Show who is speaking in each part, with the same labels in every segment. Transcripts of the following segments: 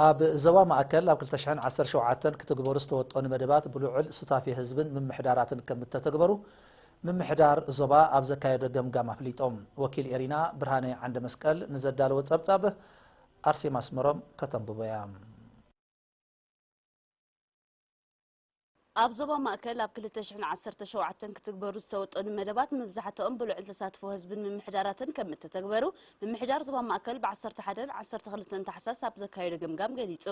Speaker 1: ኣብ ዞባ ማእከል ኣብ ክልተ ሽሕን ዓሰርተ ሸውዓተን ክትግበሩ ዝተወጠኑ መደባት ብልዑል ሱታፌ ህዝብን ምምሕዳራትን ከምእተተግበሩ ምምሕዳር ዞባ ኣብ ዘካየዶ ገምጋም ኣፍሊጦም። ወኪል ኤሪና ብርሃነ ዓንደመስቀል ንዘዳለዎ ጸብጻብ ኣርሴማ ኣስመሮም ከተንብቦ'ያ።
Speaker 2: ኣብ ዞባ ማእከል ኣብ ክልተ ሽሕን ዓሰርተ ሸውዓተን ክትግበሩ ዝተወጠኑ መደባት መብዛሕትኦም ብልዑል ተሳትፎ ህዝብን ምምሕዳራትን ከም እተተግበሩ ምምሕዳር ዞባ ማእከል ብ ዓሰርተ ሓደን ዓሰርተ ክልተን ታሕሳስ ኣብ ዘካየዶ ገምጋም ገሊጹ።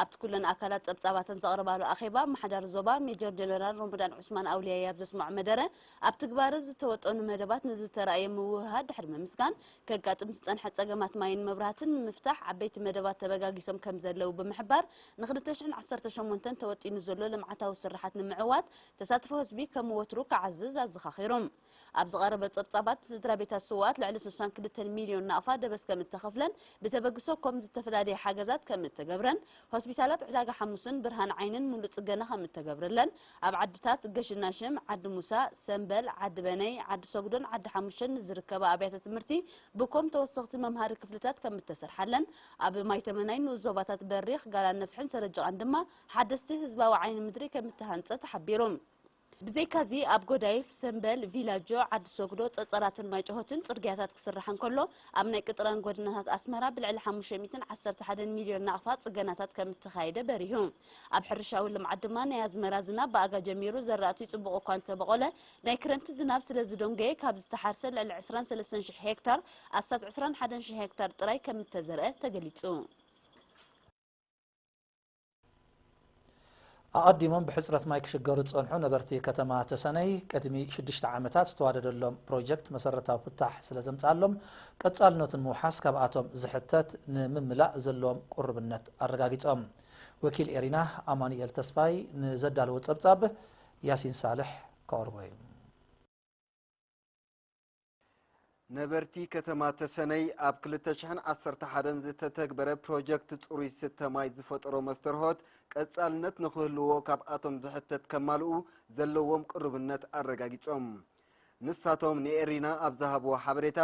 Speaker 2: ኣብቲ ኩለን ኣካላት ጸብጻባተን ዘቕረባሉ ኣኼባ ኣመሓዳሪ ዞባ ሜጀር ጀነራል ሮሞዳን ዑስማን ኣውልያይ ኣብ ዘስመዖ መደረ ኣብ ትግባረ ዝተወጠኑ መደባት ንዝተራእየ ምውህሃድ ድሕሪ ምምስጋን፣ ከጋጥም ዝጸንሐ ጸገማት ማይን መብራህትን ንምፍታሕ ዓበይቲ መደባት ተበጋጊሶም ከምዘለዉ ብምሕባር፣ ንኽልተ ሽሕን ዓሰርተ ሸሞንተን ተወጢኑ ዘሎ ልምዓታዊ ስርሓት ንምዕዋት ተሳትፎ ህዝቢ ከም ወትሩ ክዓዝዝ ኣዘኻኺሩ። ኣብ ዝቐረበ ጸብጻባት፣ ስድራቤታት ስዉኣት ልዕሊ ስሳን ክልተን ሚልዮን ናቕፋ ደበስ ከምእተኸፍለን ብተበግሶ ኮም ዝተፈላልየ ሓገዛት ከምእተገብረን ሆስፒታላት ዕዳጋ ሓሙስን ብርሃን ዓይንን ሙሉእ ፅገና ከም እተገብረለን ኣብ ዓድታት ገሽናሽም፣ ዓዲ ሙሳ፣ ሰምበል፣ ዓዲ በነይ፣ ዓዲ ሰጉዶን ዓዲ ሓሙሸን ንዝርከባ ኣብያተ ትምህርቲ ብኮም ተወሰኽቲ መምሃሪ ክፍልታት ከም እተሰርሓለን ኣብ ማይተመናይ ንኡስ ዞባታት በሪኽ፣ ጋላነፍሕን ሰረጅቓን ድማ ሓደስቲ ህዝባዊ ዓይኒ ምድሪ ከም እተሃንፀ ተሓቢሩ። ብዘይካ'ዚ ኣብ ጎዳይፍ፣ ሰምበል፣ ቪላጆ፣ ዓዲ ሶግዶ፣ ጸጸራትን ማይጨሆትን ጽርግያታት ክስራሕ እንከሎ፣ ኣብ ናይ ቅጥራን ጎደናታት ኣስመራ ብልዕሊ ሓሙሽተ ሚእትን ዓሰርተ ሓደን ሚልዮን ናቕፋ ጽገናታት ከም እተኻየደ በሪሁ። ኣብ ሕርሻዊ ልምዓት ድማ ናይ ኣዝመራ ዝናብ ብኣጋ ጀሚሩ ዘራእቲ ጽቡቕ እኳ እንተበቖለ፣ ናይ ክረምቲ ዝናብ ስለ ዝዶንገየ ካብ ዝተሓርሰ ልዕሊ ዕስራን ሰለስተን ሽሕ ሄክታር ኣስታት ዕስራን ሓደን ሽሕ ሄክታር ጥራይ ከም እተዘርኣ ተገሊጹ።
Speaker 1: ኣቐዲሞም ብሕፅረት ማይ ክሽገሩ ዝፀንሑ ነበርቲ ከተማ ተሰነይ ቅድሚ ሽዱሽተ ዓመታት ዝተዋደደሎም ፕሮጀክት መሰረታዊ ፍታሕ ስለዘምፅኣሎም ቀፃልነቱ ንምውሓስ ካብኣቶም ዝሕተት ንምምላእ ዘለዎም ቁርብነት ኣረጋጊፆም። ወኪል ኤሪና ኣማኑኤል ተስፋይ ንዘዳለዎ ፀብፃብ ያሲን ሳልሕ ከቕርቦ እዩ።
Speaker 3: ነበርቲ ከተማ ተሰነይ ኣብ ክልተ ሽሕን ዓሰርተ ሓደን ዝተተግበረ ፕሮጀክት ፅሩይ ስተ ማይ ዝፈጠሮ መስተርሆት ቀፃልነት ንክህልዎ ካብኣቶም ዝሕተት ከማልኡ ዘለዎም ቅሩብነት ኣረጋጊፆም። ንሳቶም ንኤሪና ኣብ ዝሃብዎ ሓበሬታ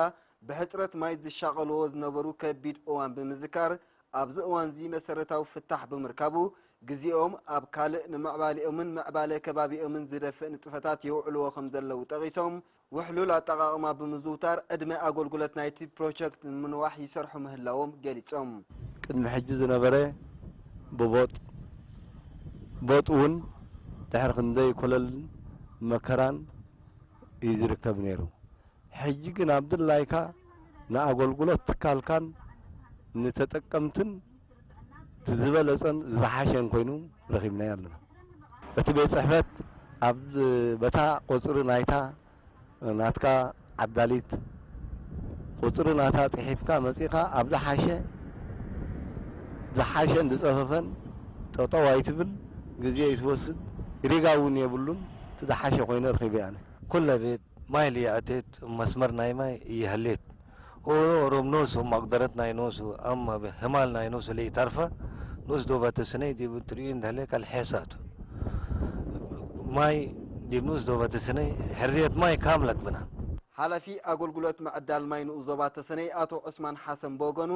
Speaker 3: ብሕፅረት ማይ ዝሻቐልዎ ዝነበሩ ከቢድ እዋን ብምዝካር ኣብዚ እዋንዚ መሰረታዊ ፍታሕ ብምርካቡ ግዚኦም ኣብ ካልእ ንምዕባሌኦምን ምዕባለ ከባቢኦምን ዝደፍእ ንጥፈታት የውዕልዎ ከምዘለዉ ጠቒሶም ውሕሉል ኣጠቓቕማ ብምዝውታር ዕድመ ኣጎልጉለት ናይቲ ፕሮቸክት ንምንዋሕ ይሰርሑ ምህላዎም ገሊፆም። ቅድሚ ሕጂ
Speaker 4: ዝነበረ ብቦጥ ቦጥ እውን ድሕሪ ክንደይ ኮለልን መከራን እዩ ዝርከብ ነይሩ። ሕጂ ግን ኣብ ድላይካ ንኣጎልጉለት ትካልካን ንተጠቀምትን እቲ ዝበለጸን ዝሓሸን ኮይኑ ረኺብናዮ ኣለና። እቲ ቤት ጽሕፈት ኣብ በታ ቁጽሪ ናይታ ናትካ ዓዳሊት ቁጽሪ ናታ ጽሒፍካ መጺእካ ኣብ ዝሓሸ ዝሓሸን ዝጸፈፈን ጠጠው ኣይትብል ግዜ ይትወስድ ሪጋ እውን የብሉን እቲ ዝሓሸ ኮይኑ ረኺበዮ ኣነ። ኩለ ቤት
Speaker 5: ማይ ልየዐቴት እብ መስመር ናይ ማይ እየሀሌት። ኦሮ ኦሮም ኖሱ ማቅደረት ናይ ኖሱ ኣም ህማል ናይ ኖሱ ለኢታርፈ ኖስ ዶብ ኣተስነይ ዲብ ትርኡይ እንደህለ ከልሐሳ ቱ። ማይ ዲብ ኖስ ዶብ ኣተስነይ ሕርየት ማይ ካምለት ብና። ሓላፊ
Speaker 3: ኣገልግሎት ምዕዳል ማይ ንኡስ ዞባ ተሰነይ ኣቶ ዑስማን ሓሰን ብወገኑ፣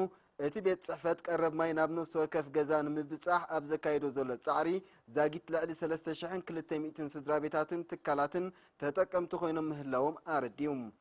Speaker 3: እቲ ቤት ጽሕፈት ቀረብ ማይ ናብ ነፍሲ ወከፍ ገዛ ንምብጻሕ ኣብ ዘካይዶ ዘሎ ጻዕሪ ዛጊት ልዕሊ ሰለስተ ሽሕን ክልተ ሚእትን ስድራቤታትን ትካላትን ተጠቀምቲ ኮይኖም ምህላዎም ኣረዲኡ።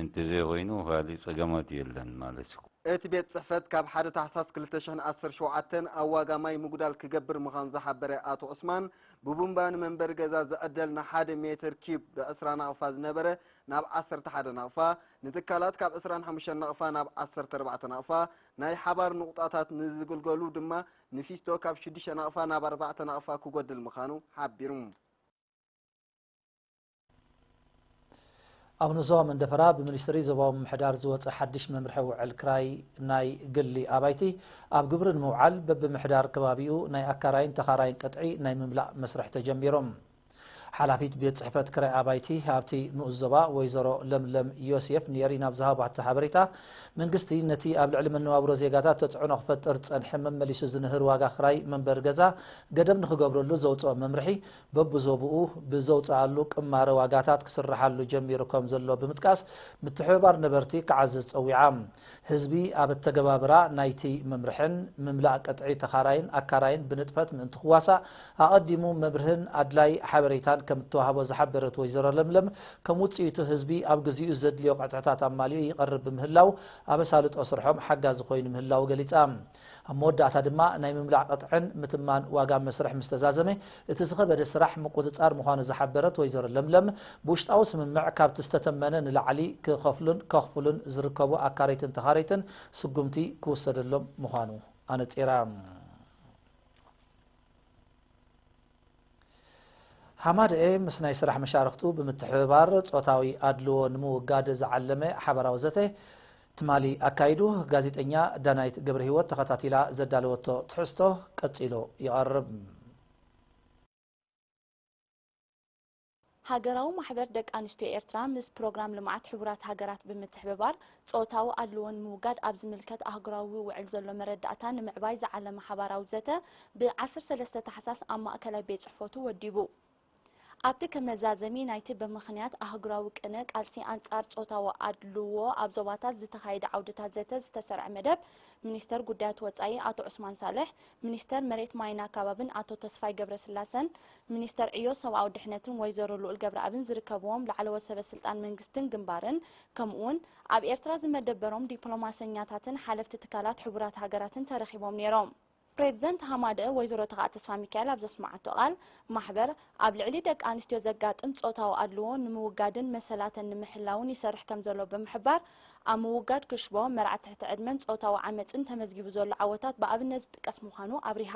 Speaker 6: እንተዘይኮይኑ ካሊእ ፀገማት የለን ማለት እዩ። እቲ ቤት ፅሕፈት
Speaker 3: ካብ ሓደ ታሕሳስ ክልተ ሽሕን ዓሰርተ ሸውዓተን ኣብ ዋጋ ማይ ምጉዳል ክገብር ምዃኑ ዝሓበረ ኣቶ ዑስማን፣ ብቡምባ ንመንበሪ ገዛ ዝዕደል ንሓደ ሜትር ኪዩብ ብ ዕስራ ናቕፋ ዝነበረ ናብ ዓሰርተ ሓደ ናቕፋ፣ ንትካላት ካብ ዕስራን ሓሙሽተን ናቕፋ ናብ ዓሰርተ ኣርባዕተ ናቕፋ፣ ናይ ሓባር ንቑጣታት ንዝግልገሉ ድማ ንፊስቶ ካብ ሽዱሽተ ናቕፋ ናብ ኣርባዕተ ናቕፋ ክጎድል ምዃኑ ሓቢሩ።
Speaker 1: ኣብ ንዞባ መንደፈራ ብሚኒስትሪ ዞባዊ ምምሕዳር ዝወፀ ሓድሽ መምርሒ ውዕል ክራይ ናይ ግሊ ኣባይቲ ኣብ ግብሪ ንምውዓል በብምሕዳር ከባቢኡ ናይ ኣካራይን ተኻራይን ቅጥዒ ናይ ምምላእ መስርሕ ተጀሚሩ። ሓላፊት ቤት ፅሕፈት ክራይ ኣባይቲ ኣብቲ ንኡስ ዞባ ወይዘሮ ለምለም ዮሴፍ ንኤሪና ኣብ ዝሃባቶ ሓበሬታ መንግስቲ ነቲ ኣብ ልዕሊ መነባብሮ ዜጋታት ተፅዕኖ ክፈጥር ዝፀንሐ መመሊሱ ዝንህር ዋጋ ክራይ መንበሪ ገዛ ገደብ ንክገብረሉ ዘውፅኦ መምርሒ በብዞብኡ ብዘውፀኣሉ ቅማረ ዋጋታት ክስረሓሉ ጀሚሩ ከምዘሎ ብምጥቃስ ምትሕብባር ነበርቲ ክዓዝዝ ፀዊዓ። ህዝቢ ኣብ ኣተገባብራ ናይቲ መምርሕን ምምላእ ቅጥዒ ተኻራይን ኣካራይን ብንጥፈት ምእንቲ ክዋሳእ ኣቐዲሙ መብርህን ኣድላይ ሓበሬታን ከምእተዋህቦ ዝሓበረት ወይዘሮ ለምለም ከም ውፅኢቱ ህዝቢ ኣብ ግዚኡ ዘድልዮ ቅጥዕታት ኣማሊኡ ይቐርብ ብምህላው ኣብ ኣሳልጦ ስርሖም ሓጋዚ ኮይኑ ምህላዉ ገሊፃ። ኣብ መወዳእታ ድማ ናይ ምምላዕ ቅጥዕን ምትማን ዋጋ መስርሕ ምስ ተዛዘመ እቲ ዝኸበደ ስራሕ ምቁፅፃር ምዃኑ ዝሓበረት ወይዘሮ ለምለም ብውሽጣዊ ስምምዕ ካብቲ ዝተተመነ ንላዕሊ ክኸፍሉን ከኽፍሉን ዝርከቡ ኣካረይትን ተኻረይትን ስጉምቲ ክውሰደሎም ምዃኑ ኣነፂራ። ሃማደኤ ምስ ናይ ስራሕ መሻርኽቱ ብምትሕብባር ፆታዊ ኣድልዎ ንምውጋድ ዝዓለመ ሓበራዊ ዘተ ትማሊ ኣካይዱ። ጋዜጠኛ ዳናይት ገብረሂወት ተኸታቲላ ዘዳለወቶ ትሕዝቶ ቀፂሉ ይቐርብ።
Speaker 7: ሃገራዊ ማሕበር ደቂ ኣንስትዮ ኤርትራ ምስ ፕሮግራም ልምዓት ሕቡራት ሃገራት ብምትሕብባር ጾታዊ ኣድልዎ ንምውጋድ ኣብ ዝምልከት ኣህጉራዊ ውዕል ዘሎ መረዳእታ ንምዕባይ ዝዓለመ ሓባራዊ ዘተ ብ ዓሰርተ ሰለስተ ታሕሳስ ኣብ ማእከላይ ቤት ጽሕፈቱ ወዲቡ። ኣብቲ ከም መዛዘሚ ናይቲ ብምኽንያት ኣህጉራዊ ቅነ ቃልሲ ኣንጻር ጾታዊ ኣድልዎ ኣብ ዞባታት ዝተኻየደ ዓውድታት ዘተ ዝተሰርዐ መደብ ሚኒስተር ጉዳያት ወጻኢ ኣቶ ዑስማን ሳልሕ፣ ሚኒስተር መሬት ማይን ኣካባብን ኣቶ ተስፋይ ገብረስላሰን፣ ሚኒስተር ዕዮ ሰብኣዊ ድሕነትን ወይዘሮ ልኡል ገብረኣብን ዝርከብዎም ላዕለዎት ሰበ ስልጣን መንግስትን ግንባርን ከምኡ'ውን ኣብ ኤርትራ ዝመደበሮም ዲፕሎማሰኛታትን ሓለፍቲ ትካላት ሕቡራት ሃገራትን ተረኺቦም ነይሮም። ፕሬዝደንት ሃማደኤ ወይዘሮ ተኽኣ ተስፋሚካኤል ኣብ ዘስመዓቶ ቃል፣ ማሕበር ኣብ ልዕሊ ደቂ ኣንስትዮ ዘጋጥም ጾታዊ ኣድልዎ ንምውጋድን መሰላተን ንምሕላውን ይሰርሕ ከምዘሎ ብምሕባር፣ ኣብ ምውጋድ ክሽቦ፣ መርዓ ትሕቲ ዕድመን ጾታዊ ዓመጽን ተመዝጊቡ ዘሎ ዓወታት ብኣብነት ዝጥቀስ ምዃኑ ኣብሪሃ።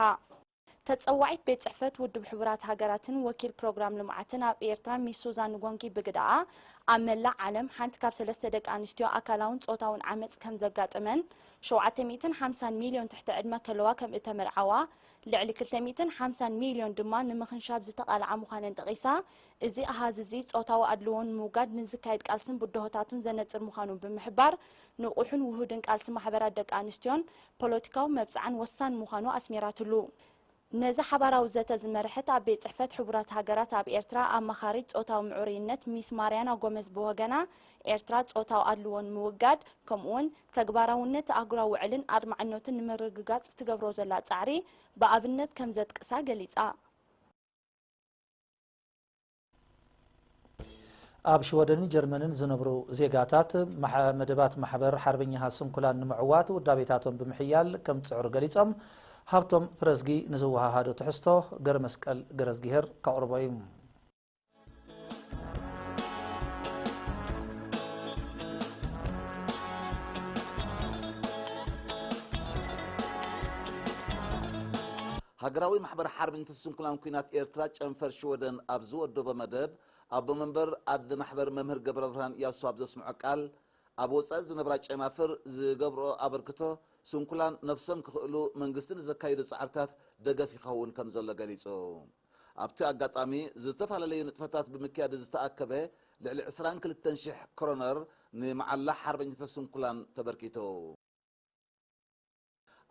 Speaker 7: ተጸዋዒት ቤት ጽሕፈት ውድብ ሕቡራት ሃገራትን ወኪል ፕሮግራም ልምዓትን ኣብ ኤርትራ ሚስ ሱዛን ጎንኪ ብግደኣ፣ ኣብ መላእ ዓለም ሓንቲ ካብ ሰለስተ ደቂ ኣንስትዮ ኣካላውን ጾታውን ዓመጽ ከም ዘጋጥመን፣ ሸውዓተ ሚእትን ሓምሳን ሚልዮን ትሕቲ ዕድመ ከለዋ ከም እተመርዓዋ፣ ልዕሊ ክልተ ሚእትን ሓምሳን ሚልዮን ድማ ንምኽንሻብ ዝተቓልዓ ምዃነን ጠቒሳ፣ እዚ ኣሃዝ እዚ ጾታዊ ኣድልዎ ንምውጋድ ንዝካየድ ቃልስን ብድሆታቱን ዘነጽር ምዃኑ ብምሕባር፣ ንቑሕን ውሁድን ቃልሲ ማሕበራት ደቂ ኣንስትዮን ፖለቲካዊ መብጽዓን ወሳኒ ምዃኑ ኣስሚራትሉ። ነዚ ሓባራዊ ዘተ ዝመርሐት ኣብ ቤት ጽሕፈት ሕቡራት ሃገራት ኣብ ኤርትራ ኣማኻሪት ጾታዊ ምዕሩይነት ሚስ ማርያና ጎመዝ ብወገና፣ ኤርትራ ጾታዊ ኣድልዎ ንምውጋድ ከምኡ'ውን ተግባራውነት ኣህጉራዊ ውዕልን ኣድማዕነቱን ንምርግጋጽ ትገብሮ ዘላ ጻዕሪ ብኣብነት ከምዘጥቅሳ ገሊጻ።
Speaker 1: ኣብ ሽወደንን ጀርመንን ዝነብሩ ዜጋታት፣ መደባት ማሕበር ሓርበኛታት ስንኩላን ንምዕዋት ውዳቤታቶም ብምሕያል ከም ዝጽዕሩ ገሊጾም። ሃብቶም ፍረዝጊ ንዝወሃሃዶ ትሕዝቶ ገረመስቀል ገረዝጊሄር ከቕርቦ እዩ።
Speaker 8: ሃገራዊ ማሕበር ሓርበኛታት ስንኩላን ኲናት ኤርትራ ጨንፈር ሽወደን ኣብ ዝወደቦ መደብ፣ ኣቦ መንበር ኣዚ ማሕበር መምህር ገብረብርሃን እያሱ ኣብ ዘስምዖ ቃል፣ ኣብ ወጻኢ ዝነብራ ጨናፍር ዝገብርኦ ኣበርክቶ፣ ስንኩላን ነፍሶም ክኽእሉ መንግስቲ ንዘካይዶ ጻዕርታት ደገፍ ይኸውን ከም ዘሎ ገሊጹ። ኣብቲ ኣጋጣሚ፣ ዝተፈላለዩ ንጥፈታት ብምክያድ ዝተኣከበ ልዕሊ ዕስራን ክልተን ሽሕ ክሮነር ንመዓላ ሓርበኛታት ስንኩላን ተበርኪቱ።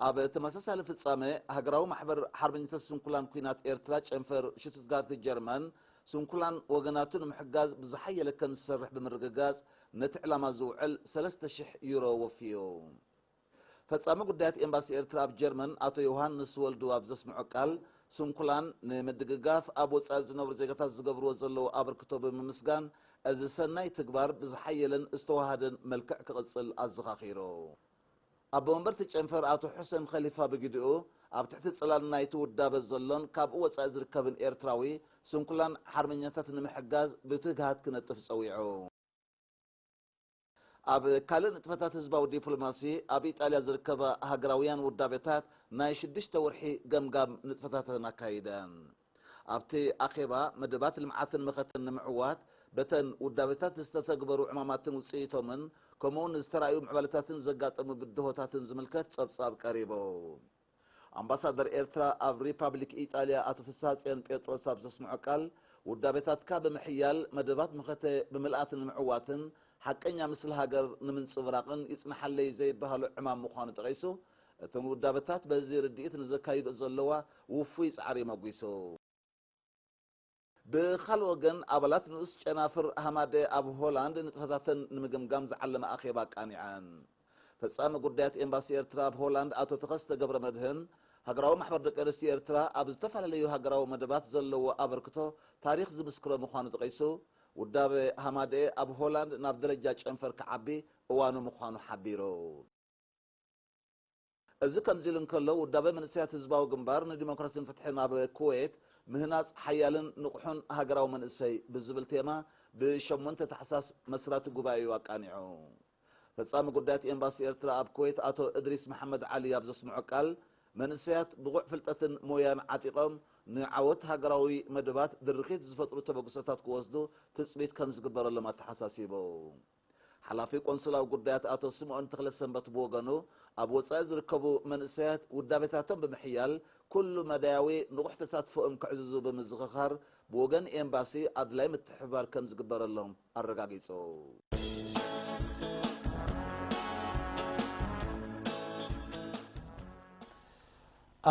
Speaker 8: ኣብ ተመሳሳሊ ፍጻመ፣ ሃገራዊ ማሕበር ሓርበኛታት ስንኩላን ኲናት ኤርትራ ጨንፈር ሽቱትጋርት ጀርመን፣ ስንኩላን ወገናቱ ንምሕጋዝ ብዝሓየለ ከም ዝሰርሕ ብምርግጋጽ ነቲ ዕላማ ዝውዕል ሰለስተ ሽሕ ዩሮ ወፍዩ። ፈጻሚ ጉዳያት ኤምባሲ ኤርትራ ኣብ ጀርመን ኣቶ ዮውሃንስ ወልዱ ኣብ ዘስምዖ ቃል፣ ስንኩላን ንምድግጋፍ ኣብ ወጻኢ ዝነብሩ ዜጋታት ዝገብርዎ ዘለዉ ኣበርክቶ ብምምስጋን፣ እዚ ሰናይ ትግባር ብዝሓየለን ዝተወሃሃደን መልክዕ ክቕጽል ኣዘኻኺሩ። ኣቦ መንበር'ቲ ጨንፈር ኣቶ ሑሰን ኸሊፋ ብግዲኡ፣ ኣብ ትሕቲ ጽላል ናይ'ቲ ውዳበ ዘሎን ካብኡ ወጻኢ ዝርከብን ኤርትራዊ ስንኩላን ሓርበኛታት ንምሕጋዝ ብትግሃት ክነጥፍ ጸዊዑ። ኣብ ካልእ ንጥፈታት ህዝባዊ ዲፕሎማሲ፣ ኣብ ኢጣልያ ዝርከባ ሃገራውያን ውዳቤታት ናይ ሽዱሽተ ወርሒ ገምጋም ንጥፈታተን ኣካይደን። ኣብቲ ኣኼባ፣ መደባት ልምዓትን መኸተን ንምዕዋት በተን ውዳቤታት ዝተተግበሩ ዕማማትን ውፅኢቶምን ከምኡውን ዝተራእዩ ምዕባለታትን ዘጋጠሙ ብድሆታትን ዝምልከት ፀብፃብ ቀሪቡ። ኣምባሳደር ኤርትራ ኣብ ሪፓብሊክ ኢጣልያ ኣቶ ፍስሃጽዮን ጴጥሮስ ኣብ ዘስምዖ ቃል፣ ውዳቤታትካ ብምሕያል መደባት መኸተ ብምልኣት ንምዕዋትን ሓቀኛ ምስሊ ሃገር ንምንጽብራቕን ይጽንሓለይ ዘይበሃሎ ዕማም ምዃኑ ጠቒሱ፣ እቶም ውዳበታት በዚ ርድኢት ንዘካይድኦ ዘለዋ ውፉይ ጻዕሪ መጒሱ። ብኻልእ ወገን ኣባላት ንኡስ ጨናፍር ሃማደኤ ኣብ ሆላንድ ንጥፈታተን ንምግምጋም ዝዓለመ ኣኼባ ኣቃኒዐን። ፈጻሚ ጉዳያት ኤምባሲ ኤርትራ ኣብ ሆላንድ ኣቶ ተኸስተ ገብረመድህን፣ ሃገራዊ ማሕበር ደቂ ኣንስትዮ ኤርትራ ኣብ ዝተፈላለዩ ሃገራዊ መደባት ዘለዎ ኣበርክቶ ታሪኽ ዝምስክሮ ምዃኑ ጠቒሱ፣ ውዳበ ሃማደኤ ኣብ ሆላንድ ናብ ደረጃ ጨንፈር ክዓቢ እዋኑ ምዃኑ ሓቢሩ። እዚ ከምዚ ኢሉ እንከሎ፣ ውዳበ መንእሰያት ህዝባዊ ግንባር ንዲሞክራሲን ፍትሕን ኣብ ኩዌት፣ ምህናጽ ሓያልን ንቑሕን ሃገራዊ መንእሰይ ብዝብል ቴማ ብ ሸሞንተ ታሕሳስ መስራቲ ጉባኤኡ ኣቃኒዑ። ፈጻሚ ጉዳያት ኤምባሲ ኤርትራ ኣብ ኩዌት ኣቶ እድሪስ መሓመድ ዓሊ ኣብ ዘስምዖ ቃል፣ መንእሰያት ብቑዕ ፍልጠትን ሞያን ዓጢቖም ንዓወት ሃገራዊ መደባት ድርኺት ዝፈጥሩ ተበግሶታት ክወስዱ ትጽቢት ከምዝግበረሎም ኣተሓሳሲቡ። ሓላፊ ቆንስላዊ ጉዳያት ኣቶ ስምኦን ተኽለሰንበት ብወገኑ፣ ኣብ ወጻኢ ዝርከቡ መንእሰያት ውዳቤታቶም ብምሕያል ኩሉ መዳያዊ ንቑሕ ተሳትፎኦም ከዕዝዙ ብምዝኽኻር፣ ብወገን ኤምባሲ ኣድላዪ ምትሕብባር ከም ዝግበረሎም ኣረጋጊጹ።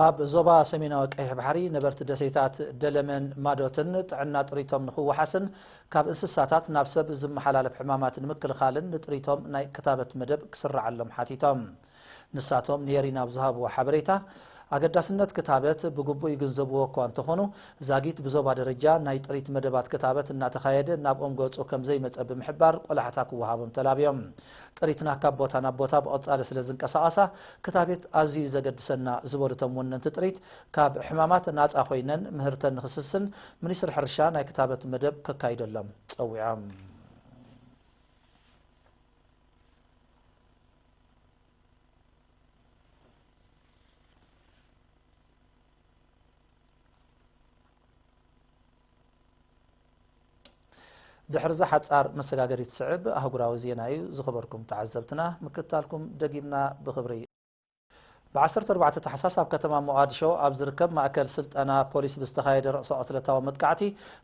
Speaker 1: ኣብ ዞባ ሰሜናዊ ቀይሕ ባሕሪ ነበርቲ ደሴታት ደለመን ማዶትን ጥዕና ጥሪቶም ንኽወሓስን ካብ እንስሳታት ናብ ሰብ ዝመሓላለፍ ሕማማት ንምክልኻልን ንጥሪቶም ናይ ክታበት መደብ ክስረዓሎም ሓቲቶም። ንሳቶም ንኤሪና ኣብ ዝሃብዎ ሓበሬታ፣ ኣገዳስነት ክታበት ብግቡእ ይግንዘብዎ እኳ እንተኾኑ፣ ዛጊት ብዞባ ደረጃ ናይ ጥሪት መደባት ክታበት እናተኻየደ ናብኦም ገጹ ከምዘይመጸ ብምሕባር ቆላሕታ ክወሃቦም ተላብዮም። ጥሪትና ካብ ቦታ ናብ ቦታ ብቐጻሊ ስለ ዝንቀሳቐሳ ክታቤት ኣዝዩ እዩ ዘገድሰና ዝበሉ እቶም ወነንቲ ጥሪት፣ ካብ ሕማማት ናጻ ኮይነን ምህርተን ንክስስን ሚኒስትሪ ሕርሻ ናይ ክታበት መደብ ከካይደሎም ጸዊዖም። ድሕርዛ ሓጻር መሰጋገሪት ስዕብ ኣህጉራዊ ዜና እዩ ዝኸበርኩም ተዓዘብትና ምክትታልኩም ደጊምና ብኽብሪ። ብ ዓሰርተ ኣርባዕተ ታሕሳስ ኣብ ከተማ ሞቓድሾ ኣብ ዝርከብ ማእከል ስልጠና ፖሊስ ብዝተኻየደ ርእሰ-ቕትለታዊ መጥቃዕቲ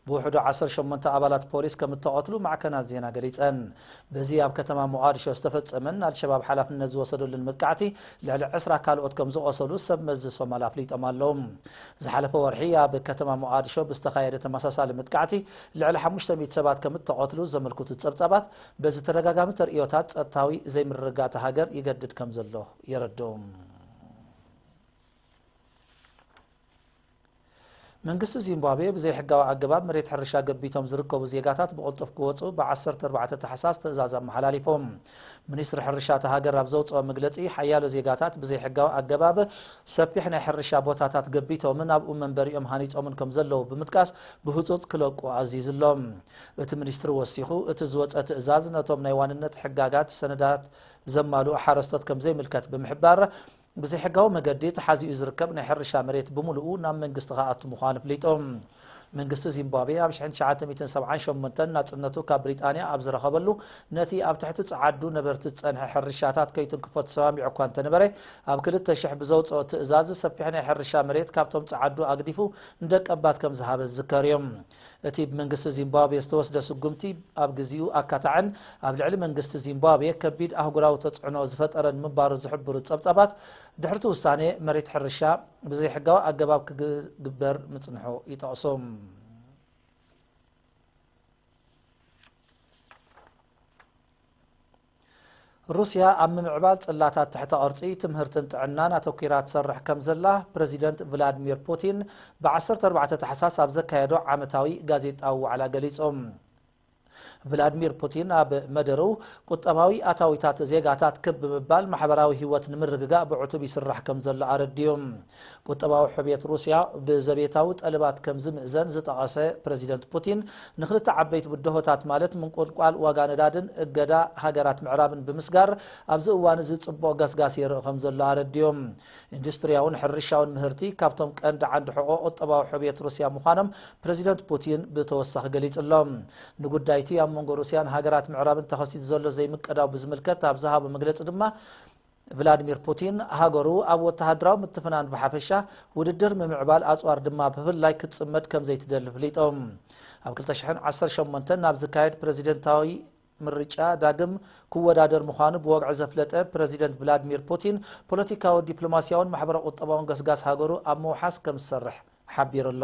Speaker 1: ብውሕዱ ዓሰርተ ሸሞንተ ኣባላት ፖሊስ ከም እተቐትሉ ማዕከናት ዜና ገሊጸን። በዚ ኣብ ከተማ ሞቓድሾ ዝተፈጸመን ኣልሸባብ ሓላፍነት ዝወሰደሉን መጥቃዕቲ ልዕሊ ዕስራ ካልኦት ከም ዝቖሰሉ ሰብ መዚ ሶማል ኣፍሊጦም ኣለዉ። ዝሓለፈ ወርሒ ኣብ ከተማ ሞቓድሾ ብዝተኻየደ ተመሳሳሊ መጥቃዕቲ ልዕሊ ሓሙሽተ ሚእቲ ሰባት ከም እተቐትሉ ዘመልክቱ ጸብጻባት፣ በዚ ተደጋጋሚ ተርእዮታት ጸጥታዊ ዘይምርግጋእ እታ ሃገር ይገድድ ከም ዘሎ የረድኡ። መንግስቲ ዚምባብዌ ብዘይሕጋዊ ኣገባብ መሬት ሕርሻ ገቢቶም ዝርከቡ ዜጋታት ብቕልጡፍ ክወፁ ብ14 ታሕሳስ ትእዛዝ ኣመሓላሊፎም ሚኒስትሪ ሕርሻ እታ ሃገር ኣብ ዘውጽኦ መግለጺ፣ ሓያሎ ዜጋታት ብዘይሕጋዊ ኣገባብ ሰፊሕ ናይ ሕርሻ ቦታታት ገቢቶምን ኣብኡ መንበሪኦም ሃኒጾምን ከም ዘለዉ ብምጥቃስ ብህጹጽ ክለቁ ኣዚዙ ኣሎ። እቲ ሚኒስትሪ ወሲኹ፣ እቲ ዝወጸ ትእዛዝ ነቶም ናይ ዋንነት ሕጋጋት ሰነዳት ዘማልኡ ሓረስቶት ከም ዘይምልከት ብምሕባር፣ ብዘይሕጋዊ መገዲ ተሓዚኡ ዝርከብ ናይ ሕርሻ መሬት ብምሉኡ ናብ መንግስቲ ክኣቱ ምዃኑ ኣፍሊጡ። መንግስቲ ዚምባብዌ ኣብ ሽሕን ትሽዓተ ሚእትን ሰብዓን ሸሞንተን ናጽነቱ ካብ ብሪጣንያ ኣብ ዝረኸበሉ ነቲ ኣብ ትሕቲ ጸዓዱ ነበርቲ ዝጸንሐ ሕርሻታት ከይትንክፎ ተሰማሚዑ እኳ እንተነበረ ኣብ ክልተ ሽሕ ብዘውጽኦ ትእዛዝ ሰፊሕ ናይ ሕርሻ መሬት ካብቶም ጸዓዱ ኣግዲፉ ንደቀባት ከም ዝሃበ ዝዝከር እዩ። እቲ ብመንግስቲ ዚምባብዌ ዝተወስደ ስጕምቲ፣ ኣብ ግዚኡ ኣካታዕን ኣብ ልዕሊ መንግስቲ ዚምባብዌ ከቢድ ኣህጕራዊ ተጽዕኖ ዝፈጠረን ምንባሩ ዝሕብሩ ጸብጻባት፣ ድሕሪ'ቲ ውሳኔ፣ መሬት ሕርሻ ብዘይሕጋዊ ኣገባብ ክግበር ምጽንሑ ይጠቕሱ። ሩስያ ኣብ ምምዕባል ጽላታት ትሕተ ቅርጺ፣ ትምህርትን ጥዕናን ኣተኲራ ትሰርሕ ከም ዘላ ፕረዚደንት ቭላድሚር ፑቲን ብ ዓሰርተ ኣርባዕተ ታሕሳስ ኣብ ዘካየዶ ዓመታዊ ጋዜጣዊ ዋዕላ ገሊጹ። ቭላድሚር ፑቲን ኣብ መደርኡ፣ ቁጠባዊ ኣታዊታት ዜጋታት ክብ ብምባል ማሕበራዊ ህይወት ንምርግጋእ ብዕቱብ ይስራሕ ከም ዘሎ ኣረዲኡ። ቁጠባዊ ሕውየት ሩስያ ብዘቤታዊ ጠለባት ከም ዝምእዘን ዝጠቐሰ ፕረዚደንት ፑቲን፣ ንክልተ ዓበይቲ ብድሆታት ማለት ምንቁልቋል ዋጋ ነዳድን እገዳ ሃገራት ምዕራብን ብምስጋር ኣብዚ እዋን'ዚ ጽቡቕ ገስጋስ የርኢ ከም ዘሎ ኣረዲኡ። ኢንዱስትርያውን ሕርሻውን ምህርቲ ካብቶም ቀንዲ ዓንዲ ሕቖ ቁጠባዊ ሕውየት ሩስያ ምዃኖም ፕረዚደንት ፑቲን ብተወሳኺ ገሊጹ'ሎ። ንጉዳይ'ቲ ኣብ መንጎ ሩስያን ሃገራት ምዕራብን ተኸሲቱ ዘሎ ዘይምቅዳው ብዝምልከት ኣብ ዝሃቦ መግለጺ ድማ፣ ቭላድሚር ፑቲን ሃገሩ ኣብ ወተሃደራዊ ምትፍናን ብሓፈሻ፣ ውድድር ምምዕባል ኣጽዋር ድማ ብፍላይ ክትጽመድ ከምዘይትደሊ ፍሊጦም። ኣብ ክልተ ሽሕን ዓሰርተ ሸሞንተን ናብ ዝካየድ ፕረዚደንታዊ ምርጫ ዳግም ክወዳደር ምዃኑ ብወግዒ ዘፍለጠ ፕረዚደንት ቭላድሚር ፑቲን፣ ፖለቲካዊ፣ ዲፕሎማስያውን ማሕበረ-ቁጠባውን ገስጋስ ሃገሩ ኣብ ምውሓስ ከምዝሰርሕ ሓቢሩ'ሎ።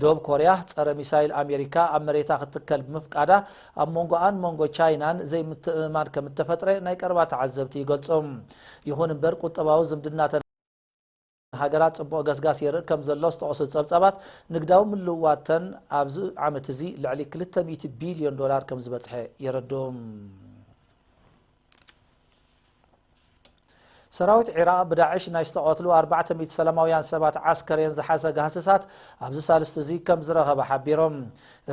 Speaker 1: ደቡብ ኮርያ ጸረ ሚሳይል ኣሜሪካ ኣብ መሬታ ክትከል ብምፍቃዳ ኣብ መንጎኣን መንጎ ቻይናን ዘይምትእምማን ከም እተፈጥረ ናይ ቀረባ ተዓዘብቲ ይገልጹ። ይኹን እምበር ቁጠባዊ ዝምድናተን ሃገራት ጽቡቕ ገስጋስ የርኢ ከም ዘሎ ዝጠቐሱ ጸብጻባት፣ ንግዳዊ ምልውዋተን ኣብዚ ዓመት እዚ ልዕሊ ክልተ ሚእቲ ቢልዮን ዶላር ከም ዝበጽሐ የረድኡ። ሰራዊት ዒራቕ ብዳዕሽ ናይ ዝተቐትሉ ኣርባዕተ ሚእቲ ሰላማውያን ሰባት ዓስከሬን ዝሓዘ ጋህስሳት ኣብዚ ሳልስቲ እዚ ከም ዝረኸበ ሓቢሩ።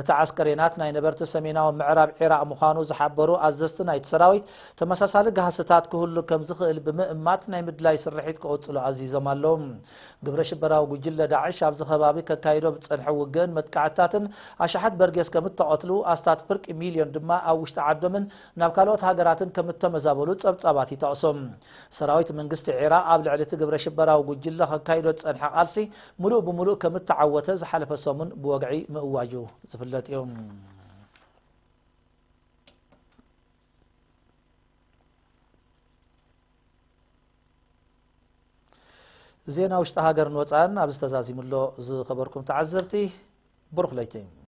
Speaker 1: እቲ ዓስከሬናት ናይ ነበርቲ ሰሜናዊ ምዕራብ ዒራቕ ምዃኑ ዝሓበሩ ኣዘዝቲ ናይቲ ሰራዊት፣ ተመሳሳሊ ጋህስታት ክህሉ ከም ዝኽእል ብምእማት ናይ ምድላይ ስርሒት ክቕጽሉ ኣዚዞም ኣለዉ። ግብረ ሽበራዊ ጉጅለ ዳዕሽ ኣብዚ ከባቢ ከካይዶ ብዝጸንሐ ውግእን መጥቃዕትታትን ኣሽሓት በርጌስ ከም እተቐትሉ፣ ኣስታት ፍርቂ ሚልዮን ድማ ኣብ ውሽጢ ዓዶምን ናብ ካልኦት ሃገራትን ከምእተመዛበሉ ጸብጻባት ይጠቕሱ። ሰራዊት መንግስቲ ዒራቕ ኣብ ልዕሊ እቲ ግብረሽበራዊ ጉጅለ ከካይዶ ዝጸንሐ ቃልሲ ምሉእ ብምሉእ ከምእተዓወተ ዝሓለፈ ሰሙን ብወግዒ ምእዋጁ ዝፍለጥ እዩ። ዜና ውሽጢ ሃገርን ወፃእን ኣብዚ ተዛዚሙ ኣሎ። ዝኸበርኩም ተዓዘብቲ ብሩኽ ለይቲ